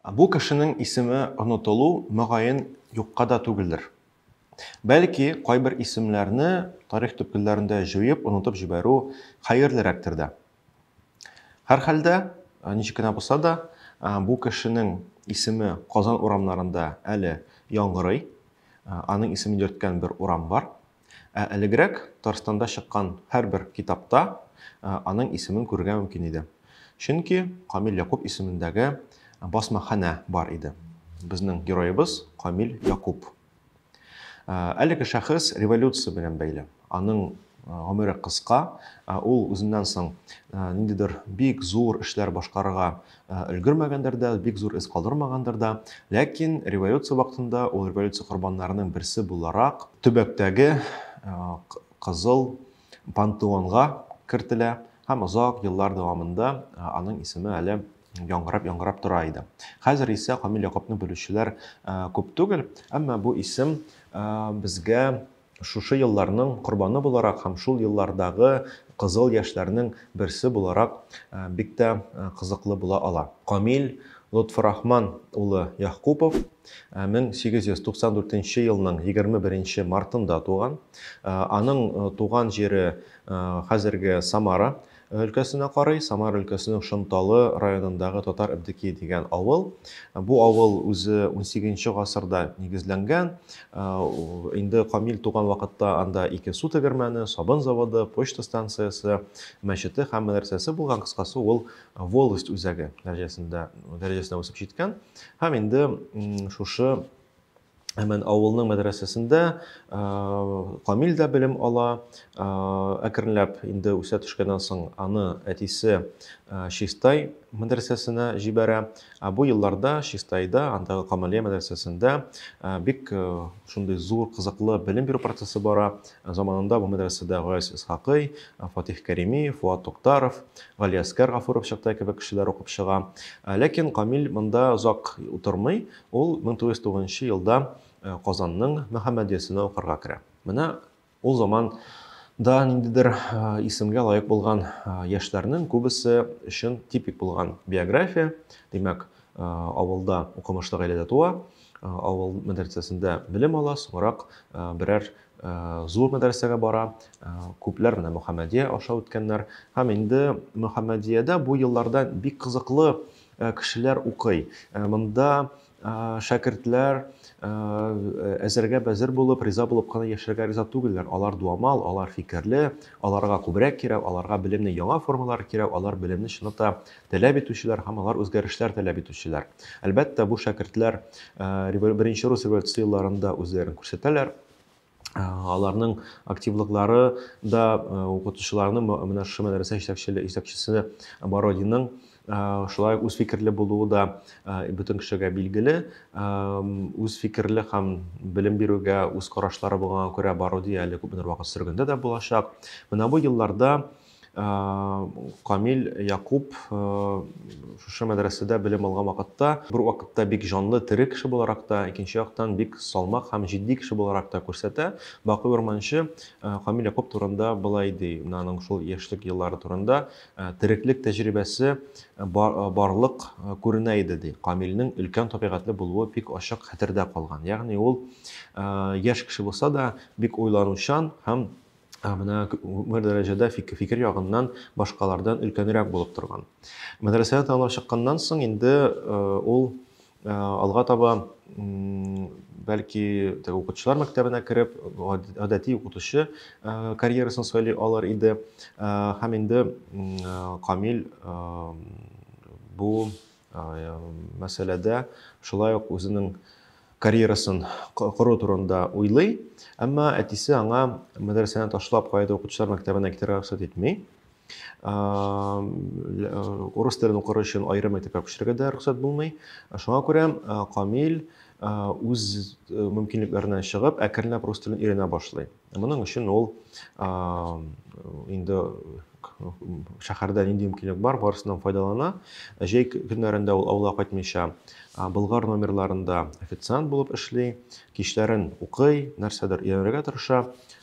Бу кешенең исеме онытылу, мөгаен, юкка да түгелдер. Бәлки, кайбер исемнәрне тарих төпкелләрендә җуеп, онытып җибәрү хәерлерәктер дә. Һәрхәлдә, ничек кенә булса да, бу кешенең исеме Казан урамнарында әле яңгырый. Аның исемен йөрткән бер урам бар. Ә элегрәк Татарстанда чыккан һәрбер китапта аның исемен күрергә мөмкин иде. Чөнки Камил Якуб исемендәге басмаханә бар иде. Безнең героебыз Камил Якуб. Әлеге шәхес революция белән бәйле. Аның гомере кыска, ул үзеннән соң ниндидер бик зур эшләр башкарырга Ә, өлгермәгәндер дә, бик зур эз калдырмагандыр да. Ләкин революция вакытында ул революция корбаннарының берсе буларак төбәктәге ә, кызыл пантеонга кертелә һәм озак еллар дәвамында ә, аның исеме әле яңгырап яңгырап тора иде. Хәзер исә Камил Якупны белүчеләр ә, күп түгел, әмма бу исем безгә Шушы елларның корбаны буларак һәм шул еллардагы кызыл яшьләрнең берсе буларак бик тә кызыклы була ала. Камил Лотфурахман улы Яхкупов 1894 елның 21 мартында туган. Аның туган җире хәзерге Самара өлкәсенә карый, Самар өлкәсенең Шонталы районындагы Татар Әбдекие дигән авыл. Бу авыл үзе унсигезенче гасырда нигезләнгән. Инде Камил туган вакытта анда ике су тегермәне, сабын заводы, почта станциясе, мәчете һәм мәдрәсәсе булган, кыскасы, ул волость үзәге дәрәҗәсендә, дәрәҗәсенә үсеп җиткән. Һәм инде шушы Әмән авылының мәдрәсәсендә Камил дә белем ала. Әкренләп инде үсә төшкәннән соң аны әтисе Чистай мәдрәсәсенә җибәрә. Ә бу елларда Чистайда, андагы Камалия мәдрәсәсендә бик шундый зур, кызыклы белем бирү процессы бара. Заманында бу мәдрәсәдә Гаяз Исхакый, Фатих Кәрими, Фуат Туктаров, Галиәскәр Гафуров чакта кебек кешеләр укып чыга. Ләкин Камил монда озак утырмый, Ул 1909 нчы елда Казанның Мөхәммәдиясенә укырга керә. Менә ул заман да ниндидер исемгә лаек булган яшьләрнең күбесе өчен типик булган биография. Димәк, авылда укымышлы гаиләдә туа, авыл мәдрәсәсендә белем ала, соңрак берәр зур мәдрәсәгә бара, күпләр менә Мөхәммәдия аша үткәннәр. Һәм инде Мөхәммәдиядә бу елларда бик кызыклы Э, кешеләр укый. Э, монда э, шәкертләр әзергә бәзер булып, риза булып кына яшәргә риза түгелләр. Алар дуамал, алар фикерле, аларга күбрәк кирәк, аларга белемне яңа формалар кирәк, алар белемне чынлыкта таләп итүчеләр һәм алар үзгәрешләр таләп итүчеләр. Әлбәттә, бу шәкертләр беренче рус революция елларында үзләрен күрсәтәләр. аларның активлыклары да укытучыларны менә шушы мәдрәсә җитәкчесе Бородинның шулай үз фикерле булуы да бөтен кешегә билгеле. Үз фикерле һәм белем бирүгә үз карашлары булганга күрә Баруди әле күпмедер вакыт сөргендә дә булачак. Менә бу елларда Камил Якуп шушы мәдрәсәдә белем алган вакытта, бер вакытта бик җанлы, тере кеше буларак та, икенче яктан бик салмак һәм җитди кеше буларак та күрсәтә. Бакый Урманчы Камил Якуп турында былай ди, аның шул яшьлек еллары турында, Тереклек тәҗрибәсе барлык күренә иде, ди. Камилнең өлкән табигатьле булуы бик ачык хәтердә калган. Ягъни ул яшь кеше булса да, бик уйланучан һәм Ә менә күңел дәрәҗәдә фикер ягыннан башкалардан өлкәнрәк булып торган. Мәдрәсәне тәмамлап чыкканнан соң инде э, ул э, алга таба бәлки теге укытучылар мәктәбенә кереп, гадәти укытучы э, карьерасын сайлый алар иде. Һәм инде Камил бу мәсьәләдә шулай ук үзенең карьерасын кору турында уйлый. Әмма әтисе аңа мәдрәсәне ташлап кайда укытучылар мәктәбенә китәргә рөхсәт итми. Урыс телен укыр өчен аерым мәктәпкә күчәргә дә рөхсәт булмый. Шуңа күрә Камил үз мөмкинлекләреннән чыгып, әкренләп рус телен өйрәнә башлый. Моның өчен ул инде шәһәрдә нинди мөмкинлек бар, барысыннан файдалана. Җәй көннәрендә ул авылга кайтмыйча Болгар номерларында официант булып эшли, кичләрен укый, нәрсәдер өйрәнергә тырыша.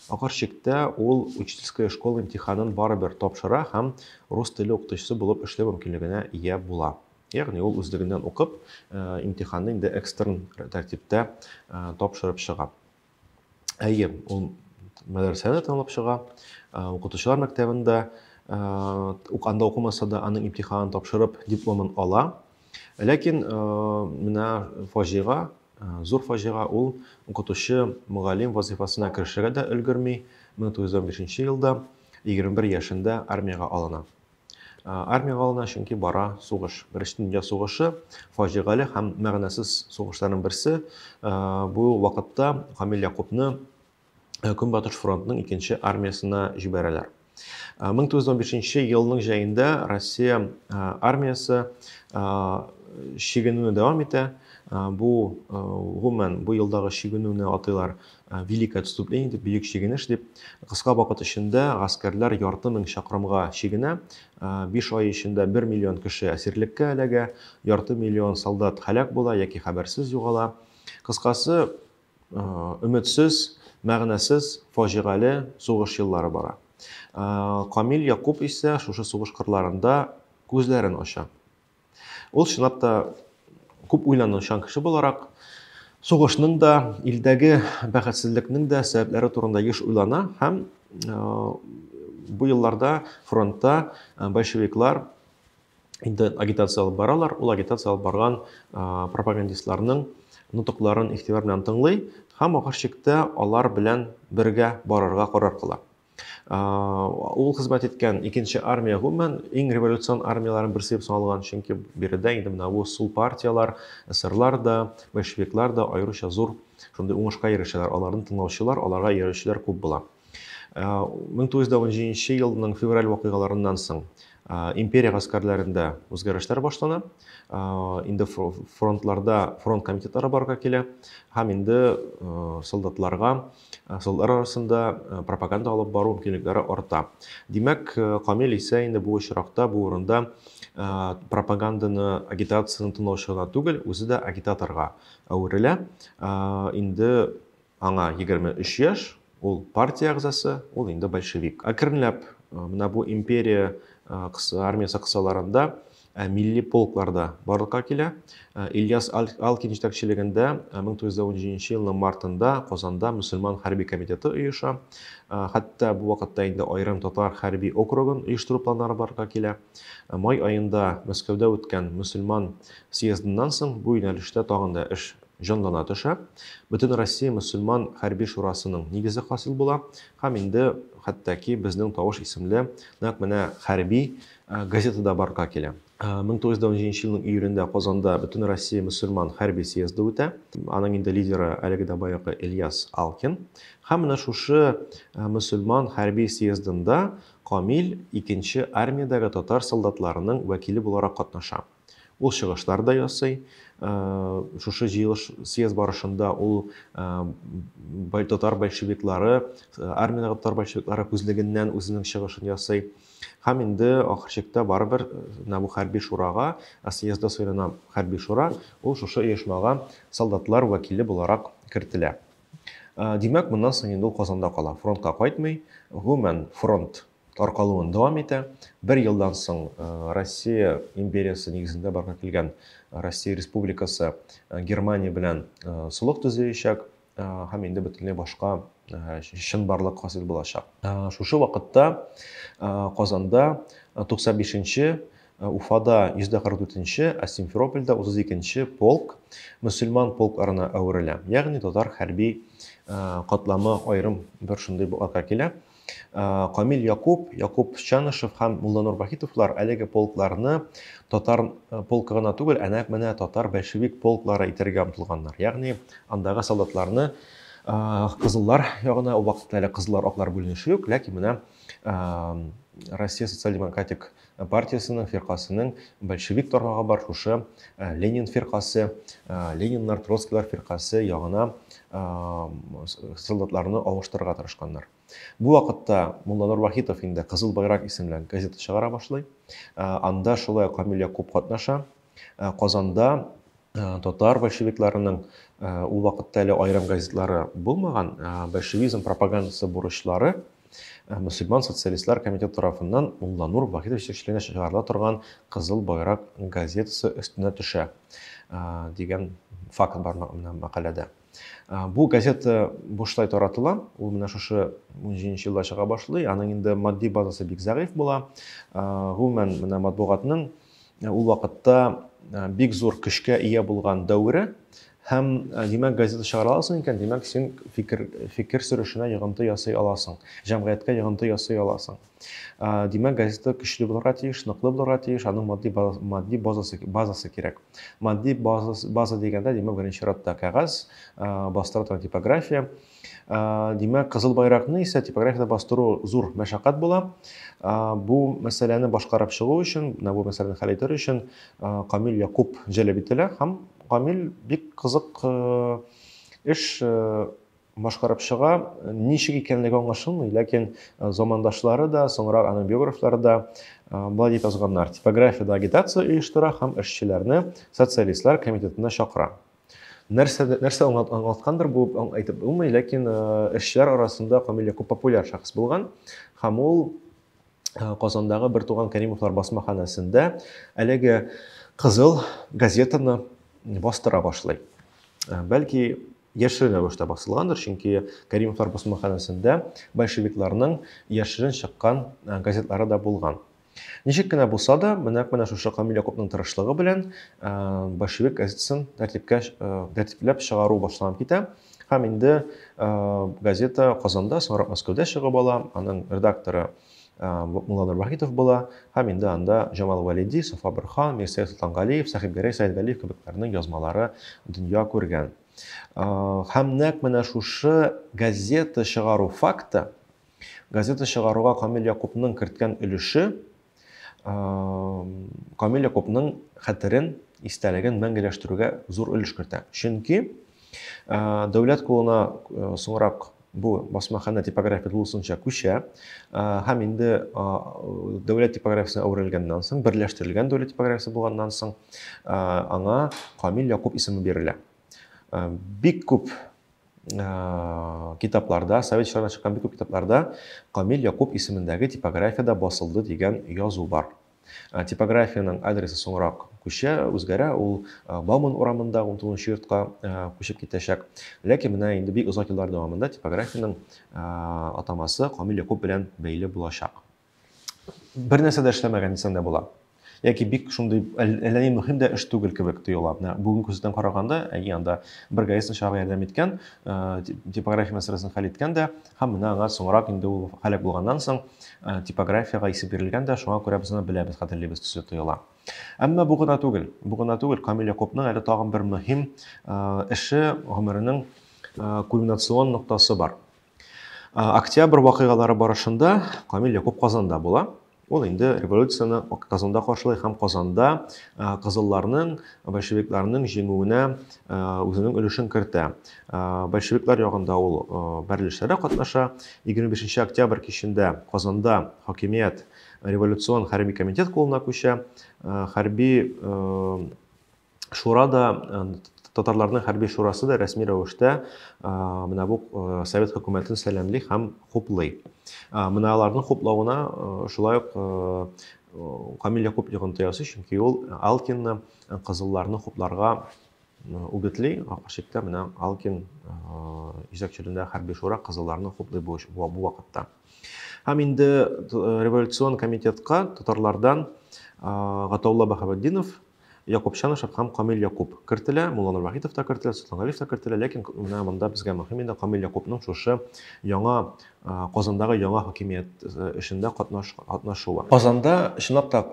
Ахыр чиктә ул учительская школа имтиханын барыбер тапшыра һәм рус теле укытучысы булып эшләү мөмкинлегенә ия була. Ягъни ул үзлегеннән укып, имтиханны инде экстерн тәртиптә тапшырып чыга. Әйе, ул мәдрәсәдә танылып чыга, укытучылар мәктәбендә ук анда укымаса да аның имтиханын тапшырып дипломын ала. Ләкин менә фаҗига, зур фаҗига ул укытучы мөгаллим вазифасына керешергә дә өлгерми. 1915 елда 21 яшендә армиягә алына. Армиягә алына, чөнки бара сугыш. Беренче дөнья сугышы, фаҗигале һәм мәгънәсез сугышларның берсе. Бу вакытта Камил Якупны Көнбатыш фронтның икенче армиясенә җибәрәләр. 1915 елның җәендә Россия армиясе чигенүне дәвам итә. Бу гомумән бу елдагы чигенүне атыйлар Э, великое отступление дип бөек чигенеш дип кыска вакыт эчендә гаскәрләр ярты мең чакрымга чигенә э, биш ай эчендә бер миллион кеше әсирлеккә эләгә ярты миллион солдат һәлак була яки хәбәрсез югала кыскасы э, өметсез мәгънәсез фаҗигале сугыш еллары бара камил якуб исә шушы сугыш кырларында күзләрен ача Ул чынлап та күп уйланучан кеше буларак, сугышның да, илдәге бәхетсезлекнең дә сәбәпләре турында еш уйлана һәм э, бу елларда фронтта э, большевиклар инде агитация алып баралар, ул агитация алып барган э, пропагандистларның нотыкларын игътибар белән тыңлый һәм ахыр чиктә алар белән бергә барырга карар кыла. ул хезмәт иткән икенче армия гомумән иң революцион армияләрнең берсе дип саналган чөнки биредә инде менә бу сул партияләр эсерлар да большевиклар да аеруча зур шундый уңышка ирешәләр аларны тыңлаучылар аларга иярүчеләр күп була мең тугыз йөз он җиденче елның февраль вакыйгаларыннан соң империя гаскәрләрендә үзгәрешләр башлана инде фронтларда фронт комитетлары барга килә һәм инде солдатларга Э, солдатлар арасында э, пропаганда алып бару мөмкинлекләре арта. Димәк, э, Камил исә инде бу очракта, бу урында пропаганданы, агитацияны тыңлаучы гына түгел, үзе дә агитаторга әверелә. Инде аңа 23 яшь, ул партия әгъзасы, ул инде большевик. Әкренләп менә бу империя армиясе кысаларында Ә милли полклар да барлыкка килә. Ильяс Алкин җитәкчелегендә 1917 елның мартында Казанда мөселман хәрби комитеты оеша. Хәтта бу вакытта инде аерым татар хәрби округын оештыру планнары барлыкка килә. Май аенда Мәскәүдә үткән мөселман съездыннан соң бу юнәлештә тагын да эш җанлана төшә. Бөтенроссия мөселман хәрби шурасының нигезе хасил була һәм инде хәтта ки безнең Тавыш исемле нәкъ менә хәрби Газетада барга килә. 1917 нче елның июлендә Казанда Бөтенроссия мөселман хәрби съезды үтә. Аның инде лидеры әлеге дә баягы Ильяс Алкин. Һәм менә шушы мөселман хәрби съездында Камил икенче армиядәге татар солдатларының вәкиле буларак катнаша. Ул чыгышлар да ясый. Шушы җыелыш съезд барышында ул татар большевиклары, армиядәге татар большевиклары күзлегеннән үзенең чыгышын ясый. Һәм инде ахыр чиктә барыбер менә бу хәрби шурага, съездда сайлана хәрби шура, ул шушы оешмага солдатлар вәкиле буларак кертелә. Димәк, моннан соң инде ул Казанда кала, фронтка кайтмый. Гомумән, фронт таркалуын дәвам итә. Бер елдан соң Россия империясы нигезендә барга килгән Россия Республикасы Германия белән солых төзеячәк һәм инде бөтенләй башка чынбарлык хасил булачак. Шушы вакытта Казанда 95-нче, Уфада 144-нче, ә Симферопольдә 32-нче полк мөселман полкларына әверелә. Ягъни татар хәрби катламы аерым бер шундый булакка килә. Камил Якуп, Якуп Чанышев һәм Мулланур Вахитовлар әлеге полкларны татар э, полкы гына түгел, әнә менә татар большевик полклары итәргә омтылганнар. Ягъни андагы солдатларны кызыллар ягына, ул вакытта әле кызыллар аклар бүленеше юк, ләкин менә Россия социал-демократик партиясенең, фиркасенең большевик тармагы бар шушы Ленин фиркасы, Лениннар, Троцкилар фиркасы ягына солдатларны авыштырырга тырышканнар. Бу вакытта Мулланур Вахитов инде Кызыл байрак исемле газета чыгара башлый. Анда шулай Камил Якуб катнаша. Казанда татар большевикларының ул вакытта әле аерым газетлары булмаган, большевизм пропагандасы бурычлары Ә мөселман социалистлар комитеты тарафыннан Мулланур Вахитов җитәкчелегендә чыгарыла торган Кызыл байрак газетасы өстенә төшә дигән факт бар менә мәкаләдә. Бу газета бушлай таратыла, ул менә шушы 17 елда чыга башлый, аның инде матди базасы бик зәгыйфь була. Гомумән, менә матбугатның Ул вакытта бик зур көчкә ия булган дәвере һәм димәк газета чыгара аласың икән димәк син фикер фикер сөрүшенә йогынты ясый аласың җәмгыятькә йогынты ясый аласың димәк газета көчле булырга тиеш ныклы булырга тиеш аның матди матди базасы базасы кирәк матди база база дигәндә димәк беренче чиратта кәгазь бастырылган типография Димәк, кызыл байракны исә типографияда бастыру зур мәшәкать була. Бу мәсьәләне башкарып чыгу өчен, бу мәсьәләне хәл итәр өчен Камил Якуб җәлеп ителә һәм Камил бик кызык эш башкарып чыга. Ничек икәнлеге аңлашылмый, ләкин замандашлары да, соңрак аның биографлары да болай дип язганнар. Типографияда агитация оештыра һәм эшчеләрне социалистлар комитетына чакыра. Нәрсә, нәрсә аңлаткандыр бу, әйтеп булмый, ләкин эшчеләр арасында Камил Якуб популяр шәхес булган һәм ул Казандагы бер туган Кәримовлар басмаханәсендә әлеге кызыл газетаны бастыра башлый. Бәлки яшерен рәвештә басылгандыр, чөнки Кәримовлар басмаханәсендә большевикларның яшерен чыккан газетлары да булган. Ничек кенә булса да, менә менә шушы Камил Якупның тырышлыгы белән э, большевик газетасын тәртипкә э, тәртипләп чыгару башланып китә. Һәм инде э, газета Казанда, соңрак Мәскәүдә чыгып ала. Аның редакторы Мулла Нурбахитов була. Һәм инде анда Җамал Валиди, Сафа Бирхан, Мирсәет Солтангалиев, Сәхибгәрәй Сәйдгалиев кебекләрнең язмалары дөнья күргән. Һәм нәкъ менә шушы газета чыгару факты Газета чыгаруга Камил Якупның керткән өлеше Камил Якупның хәтерен, истәлеген мәңгеләштерүгә зур өлеш кертә. Чөнки дәүләт кулына соңрак бу басмахана типография тулысынча күчә һәм инде дәүләт типографиясенә әверелгәннән соң берләштерелгән дәүләт типографиясе булганнан соң аңа камил якуп исеме бирелә бик күп китапларда, совет чорына чыккан бик күп китапларда Камил Якуб исемендәге типографиядә басылды дигән язу бар. Типографиянең адресы соңрак күчә, үзгәрә, ул Бауман урамында 19 йортка күчеп китәчәк. Ләкин менә инде бик озак еллар дәвамында типографиянең атамасы Камил Якуб белән бәйле булачак. бер нәрсә дә эшләмәгән дисәң дә була. Яки бик шундый әллә ни мөһим дә эш түгел кебек тоела. Менә бүген күздән караганда, әйе, анда бер гаистин чага ярдәм иткән, э, типография мәсьәләсен хәл иткән дә, һәм менә аңа соңрак инде ул халәк булганнан соң э, типографиягә исем бирелгән дә, шуңа күрә без аны беләбез, хәтерлибез төсле тоела. Әмма бу гына түгел. Бу гына түгел. Камил Якупның әле тагын бер мөһим э, эше, гомеренең кульминационный ноктасы бар. Октябрь вакыйгалары барышында Камил Якуб Казанда була. Ул инде революцияне Казанда каршылый һәм Казанда кызылларның, большевикларның җиңүенә үзенең өлешен кертә. Большевиклар ягында ул бәрелешләрдә катнаша. 25 октябрь кичендә Казанда хакимият революцион хәрби комитет кулына күчә. Хәрби шура да татарларның хәрби шурасы да рәсми рәвештә менә бу совет хөкүмәтен сәламли һәм хуплый. Менә аларның хуплавына шулай ук Камиль Якуб йогынты ясый, чөнки ул Алкинны кызылларны хупларга үгетли, каршыкта менә Алкин җитәкчелендә хәрби шура кызылларны хуплый бу вакытта. Һәм инде революцион комитетка татарлардан Гатаулла Баһаветдинов Якуп Чанышев һәм Камил Якуп кертелә, Мулла Нурвахитов та кертелә, Солтан Галиев та кертелә, ләкин менә монда безгә мөһим инде Камил Якупның шушы яңа Казандагы яңа хакимият эшендә катнаш, катнашуы. Казанда чынлап та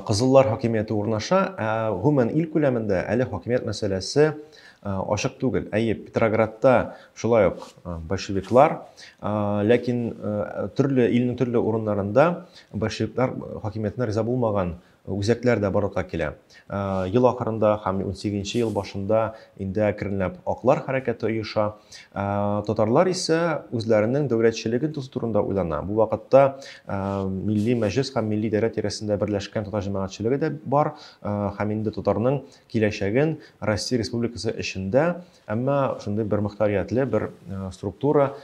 кызыллар хакимияте урнаша, ә гомумән ил күләмендә әле хакимият мәсьәләсе ачык түгел. Әйе, Петроградта шулай ук большевиклар, ләкин төрле илнең төрле урыннарында большевиклар хакимиятенә риза булмаган Үзәкләр дә барлыкка килә. Ел ахырында һәм унсигезенче ел башында инде әкренләп аклар хәрәкәте оеша. Татарлар исә үзләренең дәүләтчелеген тоту турында уйлана. Бу вакытта Милли Мәҗлес һәм Милли идарә тирәсендә берләшкән татар җәмәгатьчелеге дә бар һәм инде татарның киләчәген Россия Республикасы эчендә, әмма шундый бер мөхтәриятле бер структура,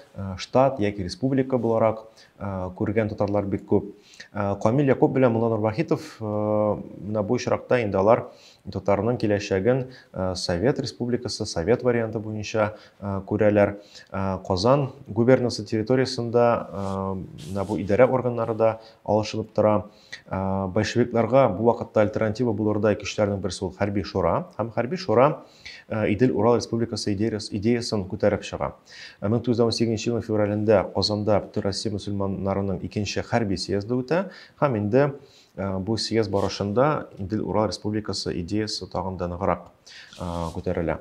штат яки республика буларак күргән татарлар бик күп. Э, камил якуп белән мулла нурвахитов э, менә бу очракта инде алар татарның киләчәген э, совет республикасы совет варианты буенча күрәләр казан губернасы территориясендә менә бу идарә органнары да алышынып тора большевикларга бу вакытта альтернатива булырдай көчләрнең берсе ул хәрби шура һәм хәрби шура Э, Идел Урал республикасы идеясын күтәреп чыга. 1918 э, елның февралендә Казанда Бөтенроссия мөселманнарының икенче хәрби съезды үтә һәм инде э, бу съезд барышында Идел Урал республикасы идеясы тагын да ныграк күтәрелә.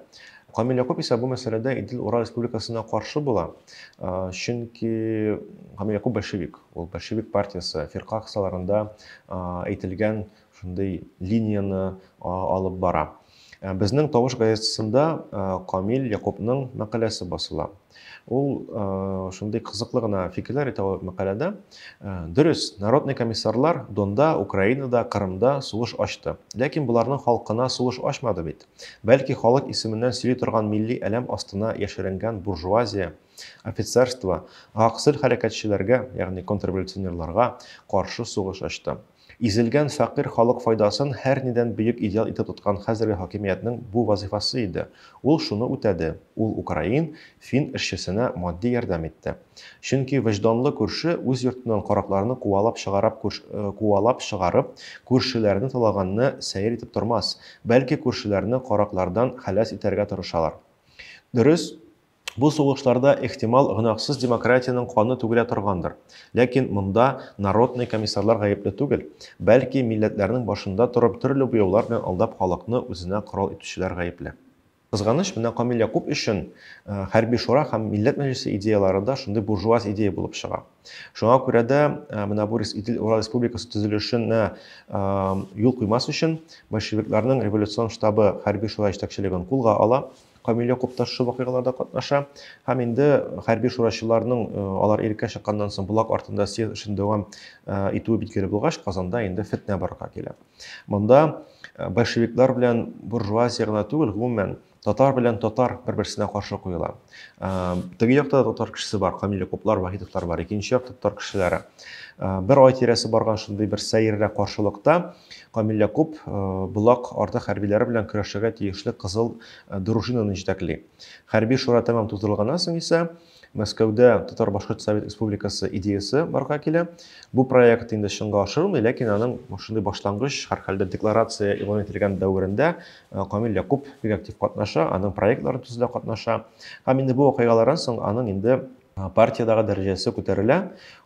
Камил Якуб исә бу мәсьәләдә Идел Урал республикасына каршы була, чөнки Камил Якуб большевик, ул большевик партиясе фирка кысаларында әйтелгән Шундый линияне алып бара. Безнең тавыш газетасында Камил Якупның мәкаләсе басыла. Ул шундый кызыклы гына фикерләр әйтә ул мәкаләдә. Дөрес, народный комиссарлар Донда, Украинада, Кырымда сугыш ачты. Ләкин боларның халкына сугыш ачмады бит. Бәлки халык исеменнән сөйли торган милли әләм астына яшеренгән буржуазия, офицерство, гаксел хәрәкәтчеләргә, ягъни контрреволюционерларга каршы сугыш ачты. Изелгән фәкыйрь халык файдасын һәрнидән бөек идеал итеп тоткан хәзерге хакимиятнең бу вазыйфасы иде. Ул шуны үтәде, ул украин, фин эшчесенә матди ярдәм итте. Чөнки вөҗданлы күрше үз йортыннан каракларны куалап чыгарап куалап чыгарып, күршеләрне талаганны сәер итеп тормас, бәлки күршеләрне караклардан хәләс итәргә тырышалар. Дөрес, Бу сугышларда, ихтимал, гөнаһсыз демократиянең каны түгелә торгандыр. Ләкин монда народный комиссарлар гаепле түгел, бәлки, милләтләрнең башында торып төрле буяулар белән алдап халыкны үзенә корал итүчеләр гаепле. Кызганыч, менә Камил Якуп өчен хәрби шура һәм милләт мәҗлесе идеяләре дә шундый буржуаз идея булып чыга. Шуңа күрә дә менә бу Идел Урал республикасы төзелешенә юл куймас өчен большевикларның революцион штабы хәрби шура җитәкчелеген кулга ала, Камил Якупташ шул вакыйгаларда катнаша һәм инде хәрби шурачыларның э, алар иреккә чыкканнан соң Булак артында съезд эшен дәвам э, итүе билгеле булгач, Казанда инде фетнә барырга килә. Монда э, большевиклар белән буржуазия гына түгел, гомумән татар белән татар бер-берсенә каршы куела. Теге якта татар кешесе бар, Камил Якуплар, Вахитовлар бар, икенче якта татар кешеләре. Бер ай тирәсе барган шундый бер сәеррә каршылыкта Камил Якуп Болак арты хәрбиләре белән көрәшергә тиешле Кызыл дружинаны җитәкли. Хәрби шура тәмам тутырылганнан соң исә, Мәскәүдә Татар-башкорт совет республикасы идеясе барга килә. Бу проект инде чынга ашырылмый, ләкин аның шундый башлангыч, һәрхәлдә декларация игълан ителгән дәверендә э, Камил Якуп бик актив катнаша, аның проектларын төзүдә катнаша. Һәм инде бу вакыйгалардан соң аның инде партиядагы дәрәҗәсе күтәрелә.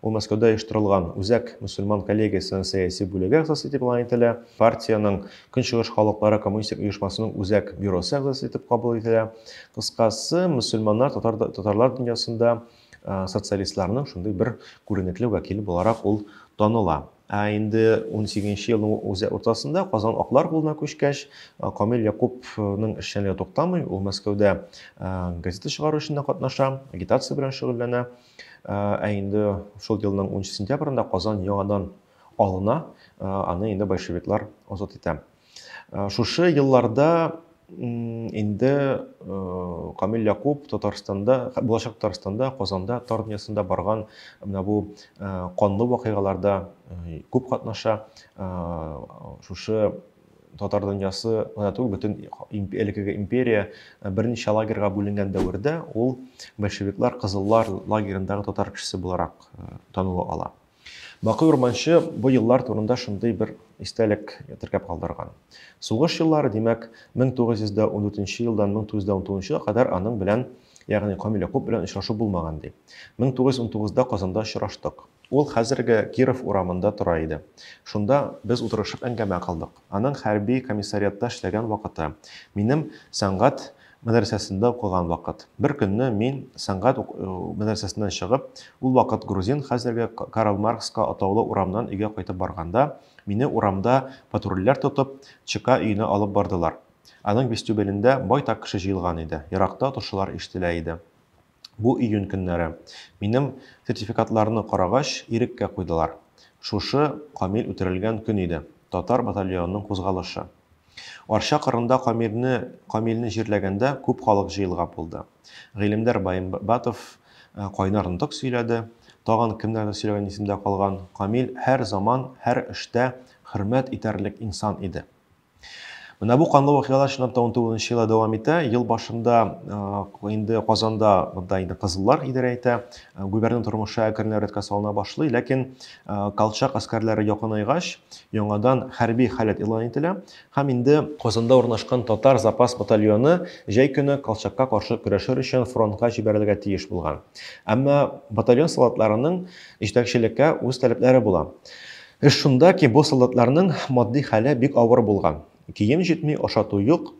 Ул Мәскәүдә оештырылган Үзәк мөселман коллегиясенең сәяси бүлеге әгъзасы итеп игълан ителә. Партиянең Көнчыгыш халыклары коммунистик оешмасының Үзәк бюросы әгъзасы итеп кабул ителә. Кыскасы, мөселманнар, татар, татарлар дөньясында социалистларның шундый бер күренекле вәкиле буларак ул таныла. Ә инде унсигезенче елның үз уртасында Казан аклар кулына күчкәч, Камил Якупның эшчәнлеге туктамый, ул Мәскәүдә газета чыгару эшендә катнаша, агитация белән шөгыльләнә. Ә инде шул елның унынчы сентябрендә Казан яңадан алына, аны инде большевиклар азат итә. Э, шушы елларда инде э, камил якуп татарстанда булачак татарстанда казанда тар дөньясында барган менә бу э, канлы вакыйгаларда э, күп катнаша шушы татар дөньясы гына түгел бөтен әлеге империя берничә лагерьга бүленгән дәвердә ул большевиклар кызыллар лагерендагы татар кешесе буларак таныла ала Бакый Урманчы бу еллар турында шундый бер истәлек теркәп калдырган. Сугыш еллары, димәк, 1914 елдан 1919 кадәр аның белән, ягъни Камил Якуп белән очрашу булмаган, ди. 1919да Казанда очраштык. Ул хәзерге Киров урамында тора иде. Шунда без утырышып әңгәмә кылдык. Аның хәрби комиссариатта эшләгән вакыты, минем сәнгать мәдрәсәсендә укыган вакыт. Бер көнне мин сәнгать ук- э, мәдрәсәсеннән чыгып, ул вакыт грузин, хәзерге К- Карл Маркска атаулы урамнан өйгә кайтып барганда, мине урамда патрульләр тотып, ЧК өенә алып бардылар. Аның вестюбелендә байтак кеше җыелган иде, еракта торшылар ишетелә иде. Бу июнь көннәре минем сертификатларны карагач, иреккә куйдылар. Шушы Камил үтерелгән көн иде, татар батальонының кузгалышы. Арча кырында Камилне Камилне җирләгәндә күп халык җыелгап булды. Гыйлемдәр Баембатов кайнар нотык сөйләде. Тагын кемнәрдер сөйләгән исемдә калган. Камил һәр заман, һәр эштә хөрмәт итәрлек инсан иде. Менә бу канлы вакыйгалар чынлап та 19 нчы елда дәвам итә. Ел башында инде Казанда монда инде кызыллар идарә итә. Губернатор тормышы әкренләп рәткә салына башлый, ләкин Колчак аскәрләре якынайгач, яңадан хәрби халәт игълан ителә һәм инде Казанда урнашкан татар запас батальоны җәй көне Колчакка каршы көрәшер өчен фронтка җибәрелергә тиеш булган. Әмма батальон солдатларының җитәкчелеккә үз таләпләре була. Эш шунда ки, бу солдатларның матди хәле бик авыр булган. Кием җитми, ашату юк.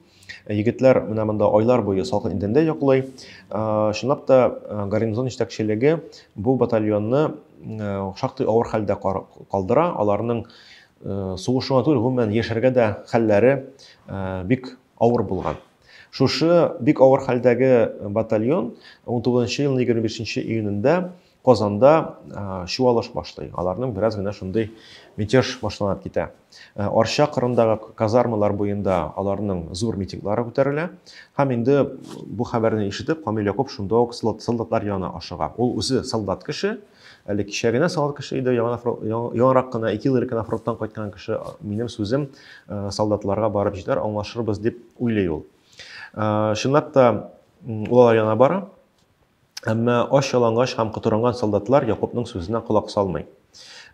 Егетләр менә монда айлар буе салкын идәндә йоклый. Чынлап та, гарнизон җитәкчелеге бу батальонны шактый авыр хәлдә калдыра. Аларның сугышу гына түгел, гомумән, яшәргә дә хәлләре бик авыр булган. Шушы бик авыр хәлдәге батальон 19 елның 25 июнендә Казанда чуалыш башлый. Аларның бераз гына шундый мятеж башланып китә. Арча кырындагы казармалар буенда аларның зур митинглары күтәрелә. Һәм инде бу хәбәрне ишетеп, Камил Якуп шунда ук солдатлар янына ашыга. Ул үзе солдат кеше, әле кичә генә солдат кеше иде, яңарак кына, ике ел элек кына фронттан кайткан кеше, минем сүзем солдатларга барып җитәр, аңлашырбыз дип уйлый ул. Чынлап та, ул алар янына бара. Әмма ач-ялангач һәм котырынган солдатлар Якупның сүзенә колак салмый.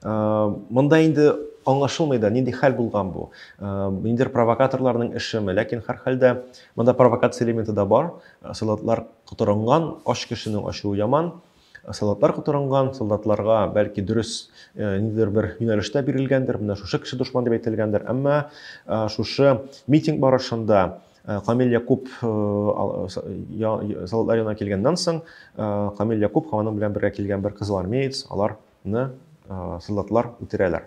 Монда инде аңлашылмый да, нинди хәл булган бу. Ниндидер провокаторларның эшеме, ләкин һәрхәлдә монда провокация элементы да бар. Солдатлар котырынган, ач кешенең ачуы яман. Солдатлар котырынган, солдатларга бәлки дөрес ниндидер бер юнәлештә бирелгәндер, менә шушы кеше дошман дип әйтелгәндер. Әмма шушы митинг барышында Э, Камил Якуб э, э, солдатлар янына килгәннән соң, Камил Якуб һәм аның белән бергә килгән бер кызыл армеец аларны солдатлар үтерәләр.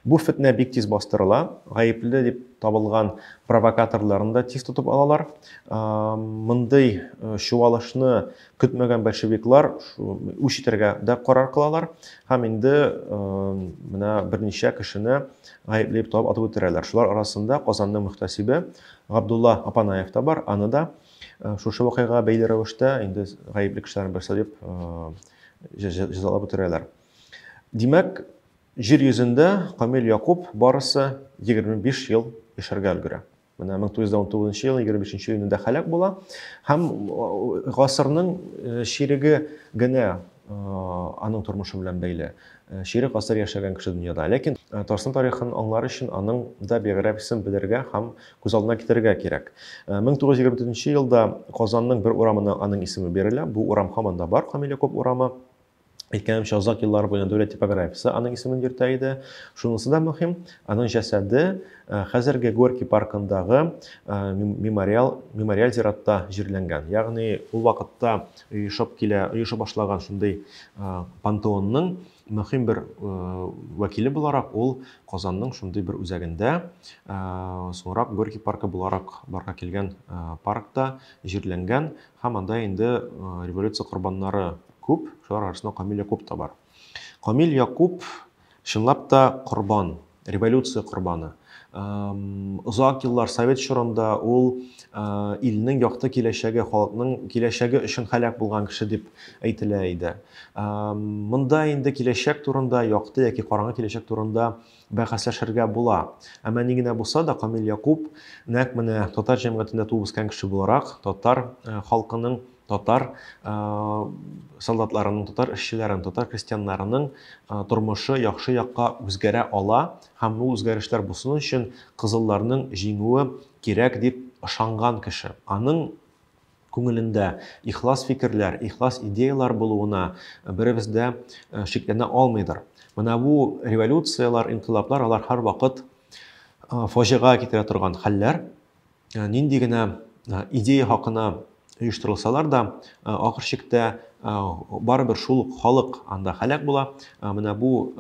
Бу фетнә бик тиз бастырыла, гаепле дип табылган провокаторларны да тиз тотып алалар. Мондый чуалышны көтмәгән большевиклар үч итәргә дә карар кылалар һәм инде менә берничә кешене гаепле дип табып атып үтерәләр. Шулар арасында Казанның мөхтәсибе Габдулла Апанаев та бар, аны да шушы вакыйга бәйле рәвештә инде гаепле кешеләрнең берсе дип җәзалап үтерәләр. Димәк, җир йөзендә Камил Якуб барысы 25 ел яшәргә өлгерә. Менә 1919 ел 25 июнендә халәк була һәм гасырның чиреге генә аның тормышы белән бәйле. Чирек гасыр яшәгән кеше дөньяда. Ләкин Татарстан тарихын аңлар өчен аның да биографиясен белергә һәм күз алдына китерергә кирәк. 1924 елда Казанның бер урамына аның исеме бирелә. Бу урам һаман да бар, Камиляков урамы. Әйткәнемчә, озак еллар буена дәүләт типографиясе аның исемен йөртә иде. Шунысы да мөһим, аның җәсәде э, хәзерге Горький паркындагы э, мемориал, мемориал зиратта җирләнгән. Ягъни ул вакытта оешып килә, оеша башлаган шундый э, пантеонның мөһим бер вәкиле буларак ул Казанның шундый бер үзәгендә, соңрак Горький паркы буларак барга килгән паркта җирләнгән. Һәм анда инде революция корбаннары күп, шулар арасында Камил Якуп та бар. Камил Якуп чынлап та корбан, революция корбаны. Озак еллар совет чорында ул илнең якты киләчәге, халыкның киләчәге өчен һәлак булган кеше дип әйтелә иде. Монда инде киләчәк турында, якты яки караңгы киләчәк турында бәхәсләшергә була. Әмма ни генә булса да, Камил Якуп, нәкъ менә татар җәмгыятендә туып үскән кеше буларак, татар халкының, татар солдатларының, татар эшчеләренең, татар крестьяннарының тормышы яхшы якка үзгәрә ала һәм бу үзгәрешләр булсын өчен кызылларның җиңүе кирәк дип ышанган кеше. Аның Күңелендә ихлас фикерләр, ихлас идеяләр булуына беребез дә шикләнә алмыйдыр. Менә бу революцияләр, инкыйлаблар, алар һәрвакыт фаҗига китерә торган хәлләр. Нинди генә идея хакына оештырылсалар да, ахыр чиктә барыбер шул ук халык анда һәлак була. Менә бу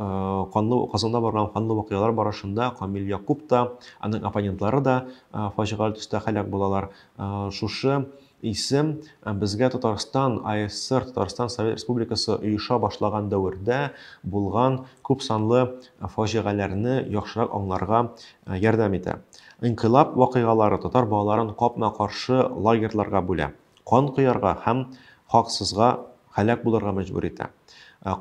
канлы Казанда барган канлы вакыйгалар барышында Камил Якуп та, аның оппонентлары да фаҗигале төстә һәлак булалар. Шушы исем безгә Татарстан АССР, Татарстан Совет Республикасы оеша башлаган дәвердә булган күп санлы фаҗигаләрне яхшырак аңларга ярдәм итә. Инкыйлаб вакыйгалары татар балаларын капма-каршы лагерьларга бүлә, кан коярга һәм хаксызга һәлак булырга мәҗбүр итә.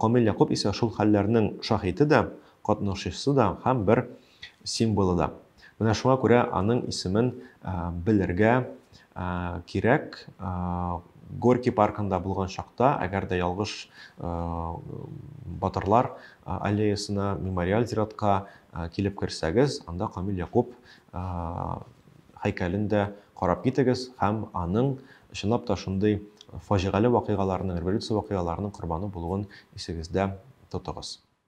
Камил Якуп исә шул хәлләрнең шаһиты да, катнашучысы да һәм бер символы да. Менә шуңа күрә аның исемен белергә кирәк. Горький паркында булган чакта, әгәр дә ялгыш батырлар аллеясына, мемориаль зиратка килеп керсәгез, анда Камил Якуб һәйкәлен дә карап китегез һәм аның чынлап та шундый фаҗигале вакыйгаларның, революция вакыйгаларының корбаны булуын исегездә тотыгыз.